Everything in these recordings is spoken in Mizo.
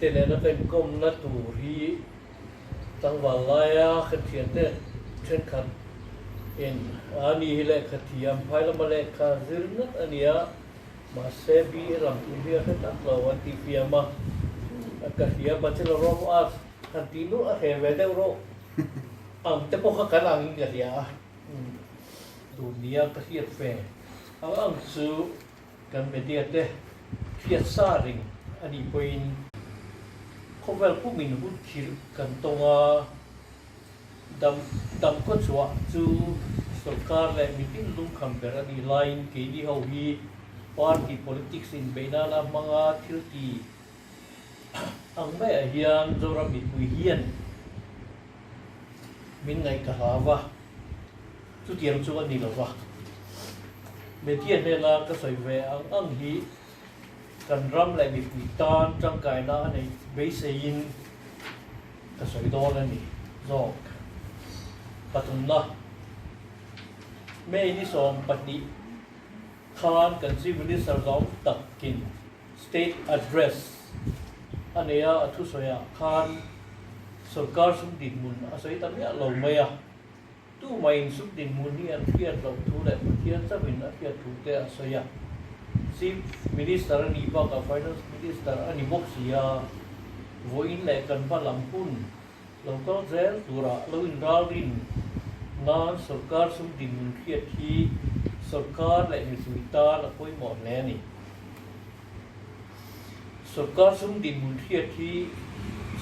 te nen a venkomna tur hi tlangval laia khathian te thenkhat in a ni hi lehkhathiam hmailama lehkha zir ngat a ni a, mahse bi e lam tur hi a hre tak lo an tih hliam a, ka hria Bachelor of Arts han tih luh a hre ve deuh rawh, ang te pawh kha kan ang in ka hria a, tun nia ka hriat ve ang ang chu. Kan media te hriat sa reng a nih pawhin khawvel pum in hut khirh kan tawng a, dam dam kaw chhuah chu sawrkar leh mi pinglung kham ber a nih laiin keini ho hi party politics inbeih nana hmanga thilti Ang mai ah hian Zora Mitpui hian min ngaih ta hla va, chutiang chu a ni lo va. Media hnena ka sawi ve ang ang hi kan ram leh mipui tan tangkaina a nei beisei in ka sawi dawn a ni zawk. Pathumna, May ni sawm pahnih khan kan Chief Minister zawng tak in State Address a nei a, a thusawiah khan sorkar suk dinhmun a sawi ta miah lo mai a, tumain suk dinhmun hi an hriat loh thu leh Pathian chauhin a hriat thu te a sawi a, Chief Minister a nih bakah Finance Minister a ni bawk sia, vawiin leh kan hma lam hun Lo kal zel turah lo in ralrin nan sorkar sum dinhmun hriat hi sorkar leh nizui tan a pawimawh hle a ni. Sorkar sum dinhmun hriat hi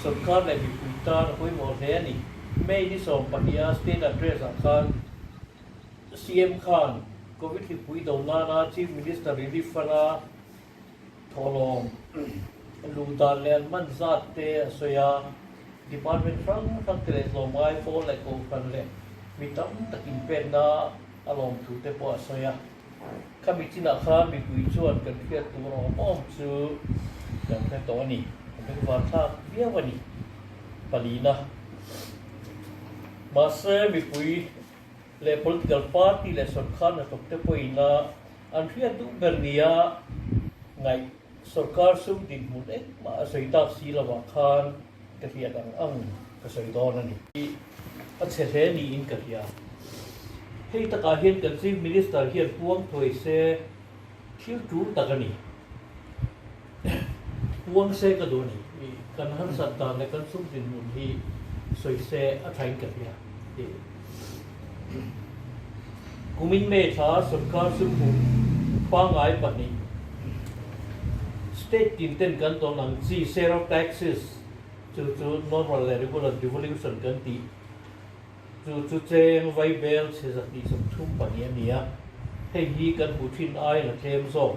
sorkar leh mipui tan a pawimawh hle a ni. May ni sawm pahniha state address ah khan CM khan Covid hlipui do nana Chief Minister Relief Fund a Thawhlawm lu dan leh an man zat te a sawi a, Department hrang hrang te leh tlawmngai pawl leh Kohhran leh mi tam tak in pekna a lawm thu te pawh a sawi a. Khami chinah khan mipui chuan kan hriat tur a awm awm chu kan hre tawh a ni. Ka hming Varthlak viau a ni. Palina. Mahse mipui leh political party leh sawrkar hnathawk te pawh ina An hriat duh ber nia ngaih sorkar sum dinhmun engmah a sawi tak si lovah khan ka hriat ang ang ka sawi dawn a ni. A chhe hle niin ka hria. Hei takah hian kan Chief Minister hian puang thuai se thil tul tak a ni. Huang se ka duh nih i kan harsat dan leh kan sum dinhmun hi sawi se a thleng ka hria ti kumin may thla sorkar sumhu pangai pahnih state team ten kan tawn ang chi sale of taxes chu chu normal leh regular devolution kan tih chu chu cheng vai bel chhe zat tih sawm thum pahnih a ni a hei hi kan hmuh thin aia la tlem zawk.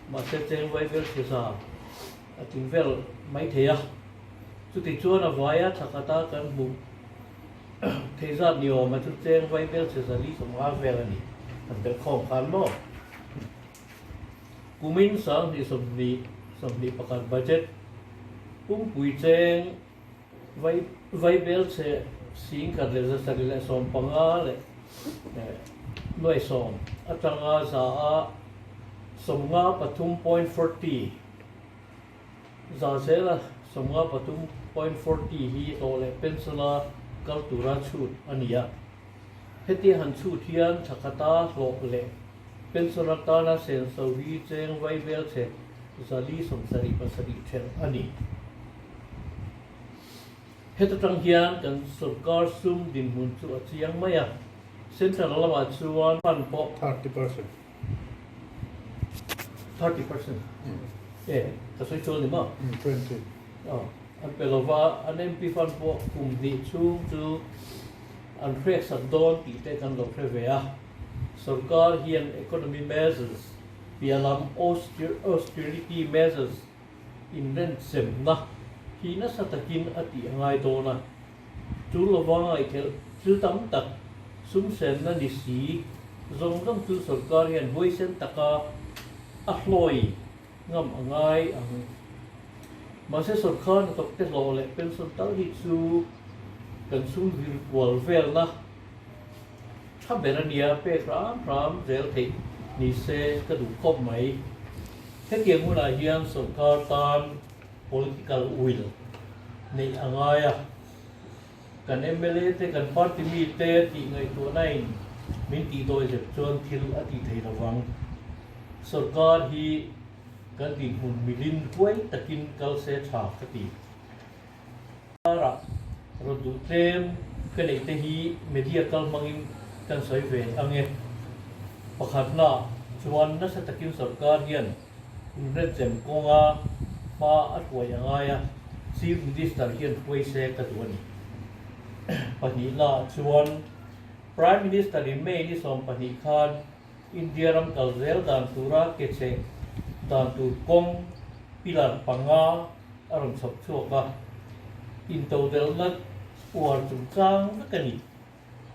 Mahse cheng vaivêl thisa a tling vêl mai thei a, chutichuan a vaia tha khata kan hmuh thei zat ni âwma chu cheng vaivêl thisa li sawmnga vêl a ni. Kan bel khâwm khân maw? Kumin sâng hnih sawmhnih sawmhnih pakhat budget pumpuii cheng. Vaibel che, singkhat leh zasari leh sawm panga leh nuaisawm atanga za a sawmnga pathum point forty za zela sawmnga pathum point forty hi hlawh leh pencil a kal tura chhut a ni a. Heti han chhut hian thakhata hlawh leh pencil atana senso hi cheng vaibel che, zali sawmsarih pasarih ṭhen a ni. Heta tang hian kan sawrkar sum dinhmun chu a chiang mai a, central lamah chuan fund pawh thirty percent thirty percent e ka sawi sual ni maw? Twenty aw an pe lova an MP fund pawh kum hnih chhung chu an hreksak dawn tih te kan lo hre ve a, sawrkar hian economy measures piah lam austerity measures Inrenchemna hi nasa takin a tih a ngai dawn a, chu lova ngaihkhelh thil tam tak sumsenna ni si zawng zawng chu sorkar hian huaisen taka a hlawi ngam a ngai ang. Mahse sorkar ni tawkte hlawh leh pension tal hi chu kan sum vir kual velna, Kha ber a nia, pek hram hram zel theih nise ka duh khawp mai. Hetiang hunah hian sawrkar tan political will neih a ngai a, kan mla te kan party mite tih ngaihtuahnain min tih dawi zet chuan thil a tih theih lo vang. Sawrkar hi kan dinhmun milin huai takin kal se tha ka ti. Karah rawn duh tlem ka neih te hi media kal hmangin kan sawi ve ange. Pakhat hna chuan nasa takin sorkar hian inremchem kawnga hma a hruai a ngai a, Chief Minister hian hruai se ka duh a ni. Pahnih hna chuan Prime Minister-in May ni sawm pahnih khan, India ram kal zel dan tura ke chheh dan tur kawng pillar panga a rawn chhawp chhuak a, intodelhna uar chungchang vek a ni.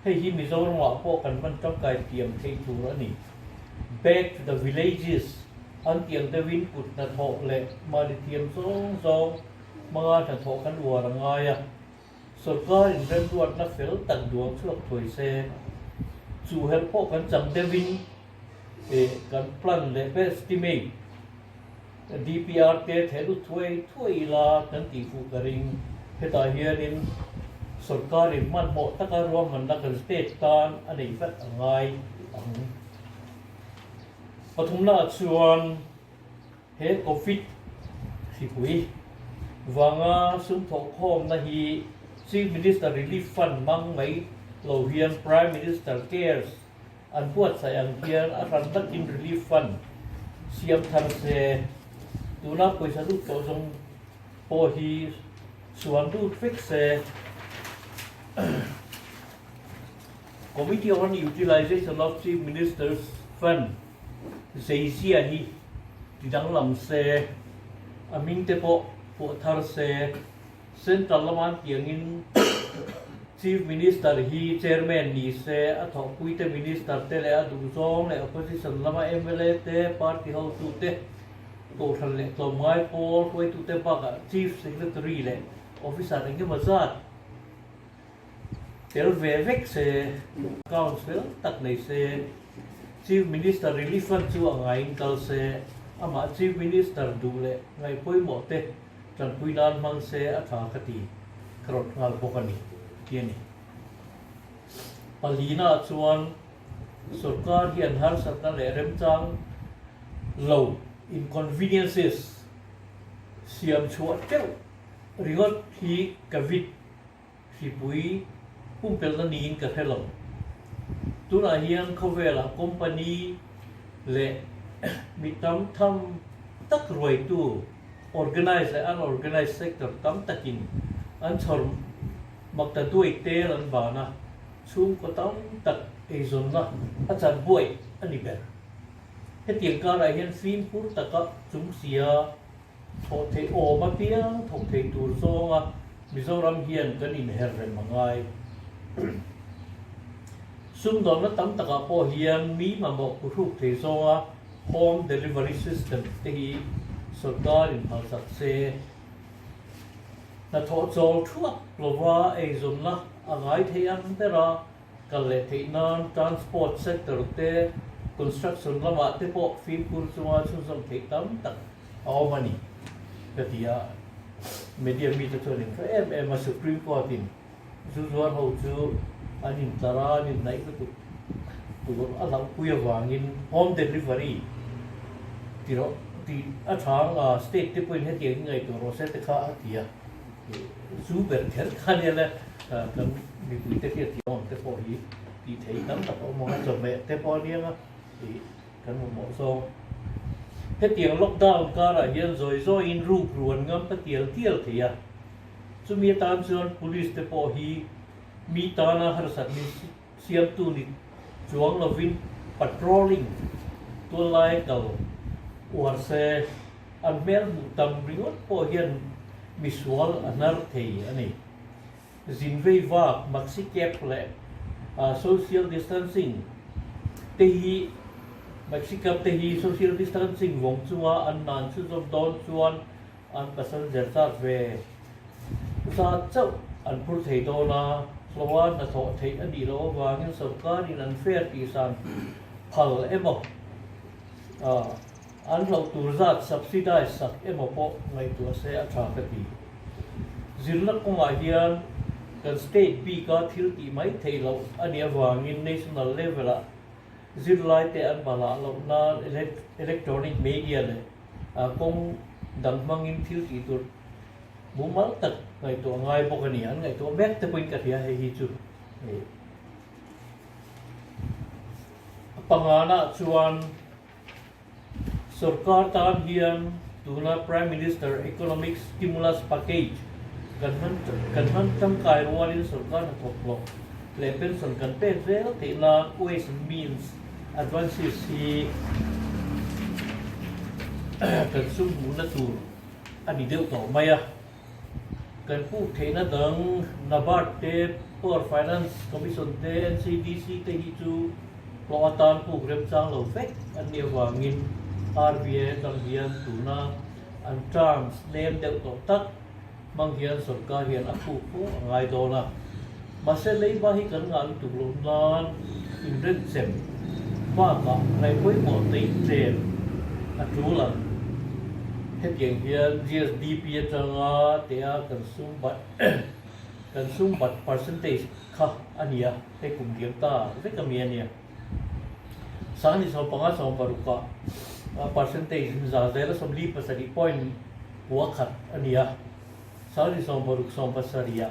Hei hi Mizorama pawh kan hman tangkai tiam theih tur a ni. Back to the villages an tih ang deuhin kut hnathawh leh mali thiam zawng zawng hmanga hnathawh kan uar a ngai a. Sorkarin remruatna fel tak duang chhuak thuai se, chu helh pawh kan chang deuhin eh kan plan leh ber stimate DPR te theh lut thuai thuai ila kan tih fuh ka ring. Hetah hianin sorkarin hmanhmawh taka ruahmanna kan state tan a nei vat a ngai ang. Pathumna ah chuan. He Covid hripui vanga sumthawh khawmna hi Chief Minister Relief Fund hmang mai lo hian Prime Minister Cares an buatsaih ang hian a hran nakin Relief Fund siam thar se. Tuna pawisa lut tawh zawng pawh hi suan lut vek se. Committee on Utilisation of Chief Minister's Fund. Zeizia hi ti danglam se, a ming te pawh fuah thar se. Central lama an ti angin Chief Minister hi Chairman ni se, a thawhpui te Minister te leh a duhzawng leh Opposition lama mla te, Party hotu te, Kohhran leh Tlawmngai pawl huaitute bakah Chief Secretary leh Officer engemaw zat, Tel ve vek se, account fel tak nei se, Chief Minister Relief Fund chu a ngaiin kal se, amah Chief Minister duh leh ngaih pawimawh te tanpui nan hmang se a tha ka ti ka rawt nghal bawk a ni tih a ni. Palina chuan sorkar hian harsatna leh remchang lo inconveniences siam chhuah teuh ringawt hi ka vit Hlipui pumpelhna niin ka hre lo. Tunah hian khawvelah company leh mi tam tham tak ruaitu organized leh unorganized sector tam takin an chhawr mak ta duai tel an ban a, chhungkaw tam tak eizawnna a chan buai a ni ber. Hetiang karah hian fim hur taka chungsia, Thawh theih awm apiang thawk theih tur zawnga Mizoram hian kan inher rem a ngai. Sumdawnna tam takah pawh hian mi mamawh pu hruk thei zawnga Home Delivery System te hi sawrkarin hmalsak che. Hnathawh chawl thuak lova eizawnna a ngai thei ang bera Kal leh theih nan transport sector te, construction lamah te pawh fimkhur chunga chhunzawm theih tam tak a awm a ni ka ti a. Media mite chuan in hre em em a, Supreme Court in zu zuar ho chu an in tlar a, an in hnaih lutuk tur a hlauhpui avangin home delivery ti rawh, ti a chhang a, state te pawhin hetiang in ngaihtuah rawh se te kha a ti a. Chu ber ṭher ta nia le kan mipui te hian tiang ang te pawh hi tih theih tam tak a awm a, chawhmeh te pawh aniang a ih kan mamawh zawng. Hetiang lockdown karah hian zawi zawiin ruk ruan ngam ta tial tial thei a, chumi atan chuan police te pawh hi mi tana harsatni Hliamtu ni chuang lovin patrolling tual lai kal uar se an hmel hmuh tam ringawt pawh hian misual a hnar thei a ni. Zin vei vak, maxi cap leh social distancing te hi maxi cap te hi social distancing vawng chunga an nan chhunzawm dawn chuan, An passenger châk ve zât chauh an phur thei dâwn a, hlawha hnathawh theih a nih loh avângin sawrkârin an fare tihsan phal emaw, an hlauh tûr zât subsidise sak emaw pawh ngaihtuah a se a ṭha ka ti. Zirna kawngah hian kan state bîka thil tih mai theih loh a nih avângin national level-ah, Zirlaite an hma lah loh nan electronic media leh kawng dang hmangin thil tih tur mumal tak ngaihtuah a ngai bawk a ni. An ngaihtuah mek te pawhin ka hria hei hi chu a pangnganah chuan, Sorkar tan hian tuna Prime Minister Economic Stimulus Package kan hman kan hman tangkai rualin sorkar hnathawk tlawh leh pension kan pek zel tihna Ways and Means advances hi kan sum hmuhna tur a ni deuh tawh mai a. Kan hmuh theihna dang Nabard te, Power Finance Commission te, NCDC te hi chu hlawh atan puk remchang lo fek an ni avangin RBI atang hian tuna an terms nem deuh tawh tak hmang hian sawrkar hian a phuk pawh a ngai dawn a. Mahse, leiba hi kan ngah lutuk loh nan inremchem bakah ngaihpawimawh teichen a tul ang. Hetiang hian GSDP atanga teha kan sumbat kan sumbat percentage kha a ni a, hei kum diam ta vek a mi a nia. Sangni sawm panga sawm parukah percentage in za zel a sawmli pasarih point kua khat a ni a. Sangni sawm paruk sawm pasariha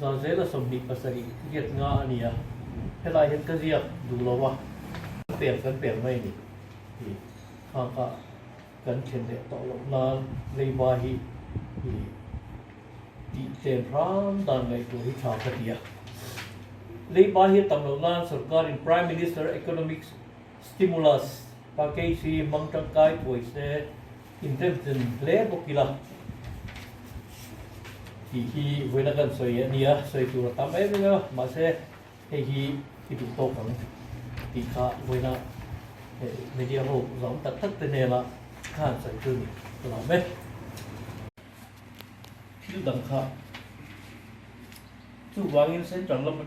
Zarzela sawmhnih pasarih nget nga a ni a, helai hian ka ziak duh lo a, ka pek kan pek mai ni hi khang kha kan thlen leh tawh loh nan leiba hi hi tihtlen hram dan ngaih tur hi tha ka ti a, leiba hi a tam loh nan sorkarin Prime Minister Economics Stimulus package hi hmang tangkai puai se inremchin hle bawk ila tih hi vawiina kan sawi a nia. Sawi tur a tam em em a, mahse hei hi i duh tawk ang tih kha vawiina hei media ho zawng tak tak te hnena kha an sawi chu ni ka la mek. Thil dang kha chu vangin central lam.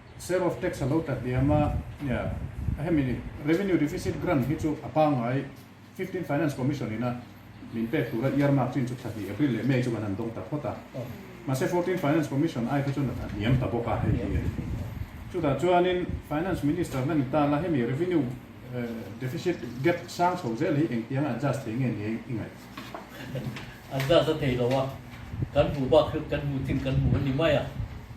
Sale of tax a lo ta hliam a, a hemi ni, Revenue deficit grant hi chu a pangngai Fifteen Finance Commission ina min pek tura earmark chin chu thla hnih April leh May chu kan han dawng ta phawt a, mahse Fourteen Finance Commission aite chuan a hniam ta bawk a, hei hi a ni. Chutah chuanin Finance Minister na ni ta la hemi Revenue deficit gap sang chho zel hi engtiang a adjust thei nge nia i ngaih? Adjust a thei lo a, kan hmuh bakhreuh kan hmuh chin kan hmu a ni mai a.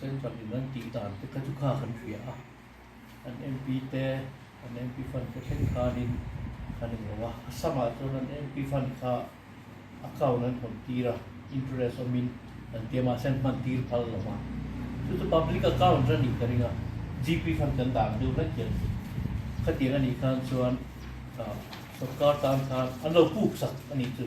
Central in an tih dan te kha chu kha kan hria a, an MP te an MP fund te hreng khanin kan en lo a, a sangah chuan an MP fund kha account an hawn tir a, interest awmin kan tia mahse an hman tir phal lo a, chu chu public account a nih ka ring a, GP fund kan dan deuh hlek hian ni, khatiang a nih khan chuan sorkar tan khan an lo puk sak a nih chu.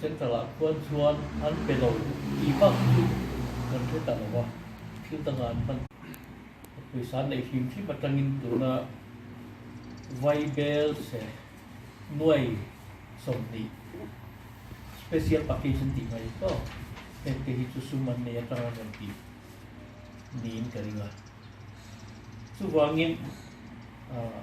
Central ah khuan chuan an pe lo tih bak hi kan hre ta lo a, thil danga an hman a pawisa neih hlim hlim atangin tuna Vaibel se nuai sawmhnih special package an tih mai tawh heng te hi chu sum an nei atang a rawn tih niin ka ring a, chuvangin ahh.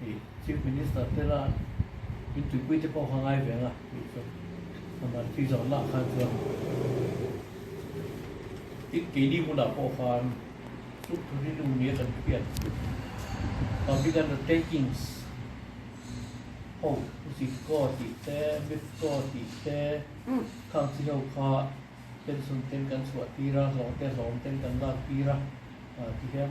Hei Chief Minister te la in tuipui te pawh kha ngai veng a tih chu Samar tui zawrh lah khan chuan tin keini hunah pawh khan chu thu rilru nia kan hriat public undertakings ho usit kaw tih te mif kaw tih te khang chi ho kha pension ten kan chhuah tir a hlawng te hlawm ten kan lak tir a ti hian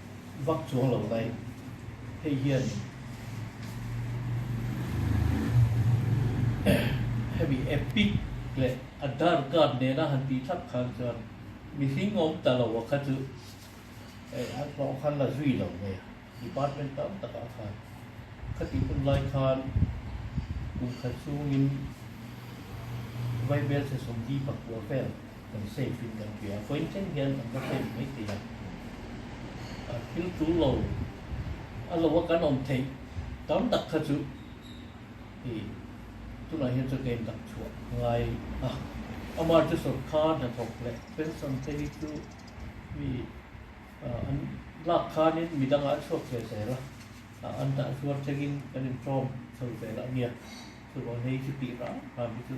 vak chuang lo lai hei hian hemi epic leh adhar card nena han tih thlap khan chuan mi hling awm ta lo a kha chu eh an hlawh khan la zui lo mai a department tam tak ah khan kha tih hun lai khan kum khat chungin vaibel thesawm dipa kual vel kan save in kan ti a, vawiin tlem hian kan va save mai thei a, a thil tul lo a lo a kan awm theih tam tak kha chu hei tunah hian chu ka in dak chhuah ngai a, amar chu sawrkar hnathawk leh pension te hi chu mi an lak khanin mi dangah a chhuak ve zel a, a an dah zuar chengin kan in tawng chho zel ania, chu vawiin hei chu tih rang rang hi chu.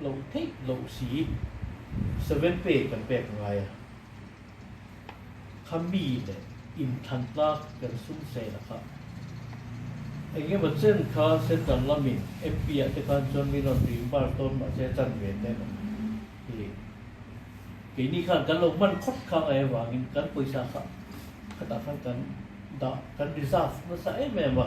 loh theih loh si i seven pay kan pek ngai a, kha mi leh inthlantlak kan sum seh la kha. Eng emaw chen kha central lamin MP ah te khan chuan min rawn rin bar tawn mah che chan ve ta em ang i ri. Keini khan kan lo hman khawt kha ngai avangin kan pawisa kha khatah khan kan dah kan reserve nasa em em a.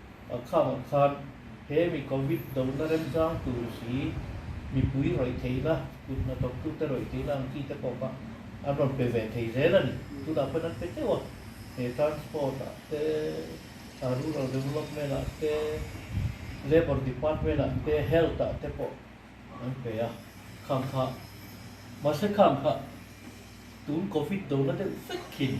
A khâwng khân, he mi Covid dona remchâng tûr hi mipui rawi theihna, kut hnathawktute rawi theihna ang chi te pawh kha an rawn pe ve thei zêl a ni. Tunah khawn an pe teuh a, he Transport-ah te, a Rural Development-ah te, Labour Department-ah te, Health-ah te pawh an pe a, khâwng khah. Mahse khâwng khah, tûn Covid dona deuh vek hi a ni.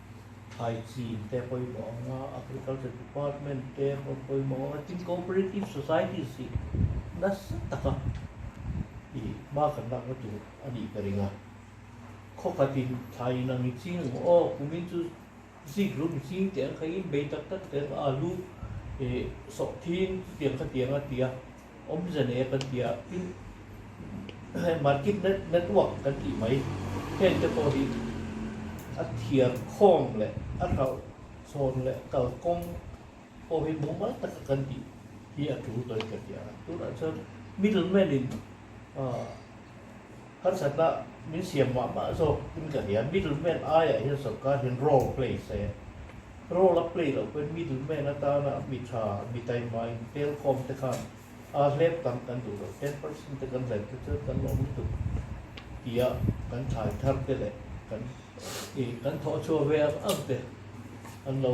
Thlai chin te a pawimawh ang a, Agriculture Department te pawh an pawimawh ang a, tin Cooperative Society si nasa taka i hma kan lakna tur a nih ka ring a. Khawkhatin thlai inang i ching ang, aw kumin chu zik lum i ching teh ang kha, inbei tak tak teh ang, alu, sawh thin chutiang kha tiang a ti a. Awm ze leh kan tia tin he market network kan tih mai heng te pawh hi a thiar khawng leh a hralh chhawn leh kalkawng pawh hi mumal taka kan tih hi a tul tawin ka tia a. Tunah chuan middle man in ahh. Harsatna min siam mah mah zawk in ka hria. Middleman aiah hian sawrkar hian role play se role a play loh pawhin middleman atana mi tha, mi taima in telkom te khan aa hlep tam kan duh lo, ten percent te kan zem te chuan kan awm tuk tia kan thlai thar te leh kan kan thawhchhuah ve ang ang te an lo.